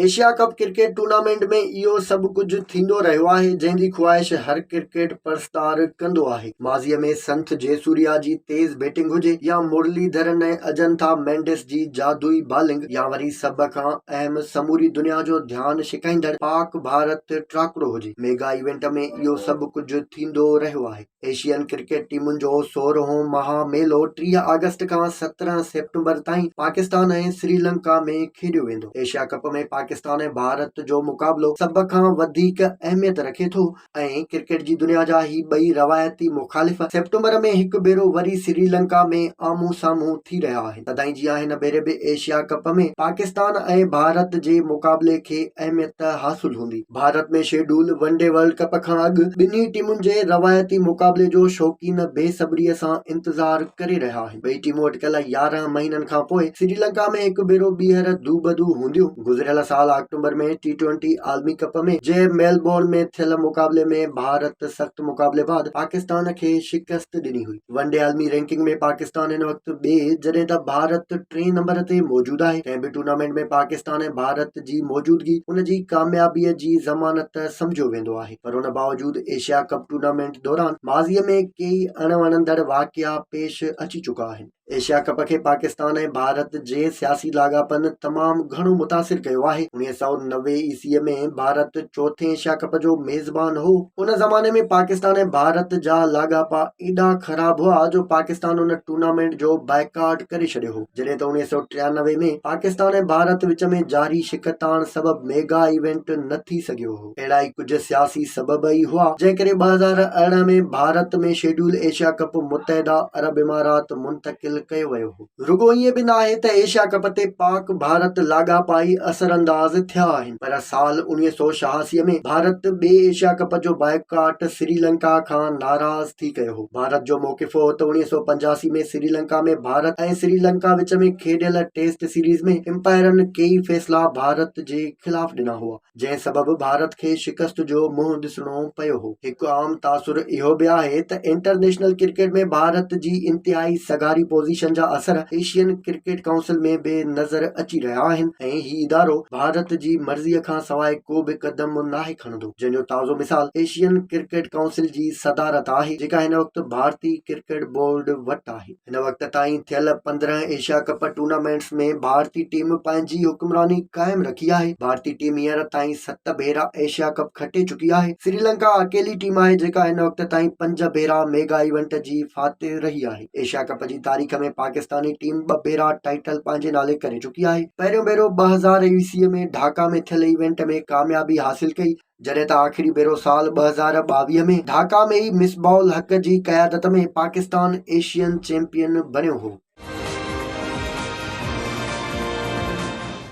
Asia cup cricket tournament ۾ اهو سڀ ڪجهه ٿيندو رهيو آهي جنهن جي خواهش هر ڪرڪيٽ پرستار ڪندو آهي ماضي ۾ سنٿ جيسوريا جي تيز بيٽنگ هجي يا مرلي ڌرن ۽ اجنٿا مينڊس جي جادوئي بالنگ يا وري سڀ کان اهم سموري دنيا جو ڌيان ڇڪائيندڙ پاڪ ڀارت ٽراڪڙو هجي ميگا ايونٽ ۾ اهو سڀ ڪجهه ٿيندو رهيو آهي ايشين ڪرڪيٽ ٽيمن جو سورهون مها ميلو ٽيهه آگسٽ کان سترهن سيپٽمبر تائين پاڪستان ۽ سريلنڪا ۾ کيڏيو ويندو ايشيا ڪپ ۾ پاڪستان ۽ ڀارت جو مقابلو سڀ کان وڌيڪ اهميت رکي ٿو ۽ ڪرڪيٽ جي دنيا جا هي ٻئي روايتي مخالف سيپٽمبر ۾ هڪ ڀيرو وري سريلنڪا ۾ آمهون سامهون ٿي رهيا آهن تدائين جيان هن ڀيري به ايشيا ڪپ ۾ پاڪستان ۽ ڀارت جي مقابلي کي اهميت حاصل هوندي. Bharat ۾ schedule one day world cup کان اڳ ٻنهي ٽيمن جي روايتي مقابلي جو شوقين بي صبري سان انتظار ڪري رهيا آهن. ٻئي ٽيمون اٽڪل يارهن مهينن کان پوء سريلنڪا ۾ هڪ ڀيرو ٻيهر دوبدو هونديون. گذريل سال آڪٽوبر ۾ ٽي ٽوئنٽي عالمي ڪپ ۾ جي ميلبورن ۾ ٿيل مقابلي ۾ ڀارت سخت مقابلي بعد پاڪستان کي شڪست ڏني هئي. ون ڊي عالمي رينڪنگ ۾ پاڪستان هن وقت ٻئي جڏهن ته ڀارت ٽئين نمبر تي موجود آهي ڪنهن به ٽورنامينٽ ۾ پاڪستان ۽ ڀارت جي موجودگي ان جي ڪاميابي جي ضمانت سمجهيو ويندو آهي پر ان باوجود ايشيا ڪپ ٽورنامينٽ دوران ماضي ۾ ڪيئي اڻ وڻندڙ واقعا پيش اچي چڪا آهن ايشيا ڪپ کي پاڪستان ۽ ڀارت جي سياسي لاڳاپن تمام گهڻو متاثر ڪيو آهي اڻويهه سؤ نوي عيسوي ۾ ڀارت چوٿين ايشيا ڪپ جو ميزبان هو ان زماني ۾ پاڪستان ۽ ڀارت جا لاڳاپا ايڏا خراب هئا جو پاڪستان ان ٽورنامينٽ جو بائيڪاٽ ڪري ڇڏيو هو جڏهن ته اوڻيهه سؤ ٽيانوي ۾ پاڪستان ۽ ڀارت وچ ۾ جاري شڪتاڻ سبب ميگا ايونٽ نه ٿي سگهيو هو اهڙا ئي ڪجهه سياسي سبب ئي هئا جنهن ڪري ٻه هزار ارڙهن ۾ ڀارت ۾ شيڊيول ايشيا ڪپ متحده عرب امارات منتقل ڪيو ويو هو. رڳو ائين به ناهي ته ايشيا ڪپ تي پاڪ ڀارت لاڳاپا ئي اثرانداز ٿيا آهن پر سال اوڻيهه سؤ ڇهاسي ۾ ڀارت ٻئي ايشيا ڪپ جو بائيڪاٽ سريلنڪا کان ناراض ٿي ڪيو هو. ڀارت جو موقف هو ته اوڻيهه سؤ پنجاسي ۾ سريلنڪا ۾ ڀارت ۽ سريلنڪا وچ ۾ کيڏيل ٽيسٽ سيريز ۾ امپائرن ڪيئي فيصلا ڀارت جي خلاف ڏنا هئا. جنهن سبب ڀارت کي شڪست جو منهن ڏسڻو پيو هو. هڪ عام تاثر اهو به آهي ته انٽرنيشنل ڪرڪيٽ ۾ ڀارت جي انتهائي سگهاري پوزيشن جا اثر ايشين ڪرڪيٽ ڪائونسل ۾ به نظر اچي رهيا آهن ۽ هي ادارو ڀارت جي مرضي کان سواء ڪو به قدم ناهي کڻندو جنهن جو تازو مثال ايشين ڪرڪيٽ ڪائونسل جي صدارت آهي جيڪا هن وقت ڀارتي ڪرڪيٽ بورڊ وٽ آهي. هن وقت تائين ٿيل پندرهن ايشيا ڪپ ٽورنامينٽس ۾ ڀارتي ٽيم پنهنجي حڪمراني قائم رکي آهي ڀارتي ٽيم هينئر تائين ست ڀيرا ايشيا ڪپ کٽي چڪي آهي سريلنڪا اڪيلي ٽيم آهي جيڪا هن وقت تائين پنج ڀيرا ميگا ايونٽ جي فاتح رهي آهي ايشيا ڪپ جي تاريخ ۾ پاڪستاني ٽيم ٻه ڀيرا ٽائيٽل پنهنجي نالي ڪري چڪي آهي پهريون ڀيرو ٻه هزار ايسيء ۾ ڍاڪا ۾ ٿيل ايونٽ ۾ ڪاميابي حاصل ڪئي جڏهن ته آخري ڀيرو سال ٻه هزار ٻاويهه ۾ ڍاڪا ۾ ئي مصباح الحق جي قيادت ۾ پاڪستان ايشين چيمپيئن بڻيو هو.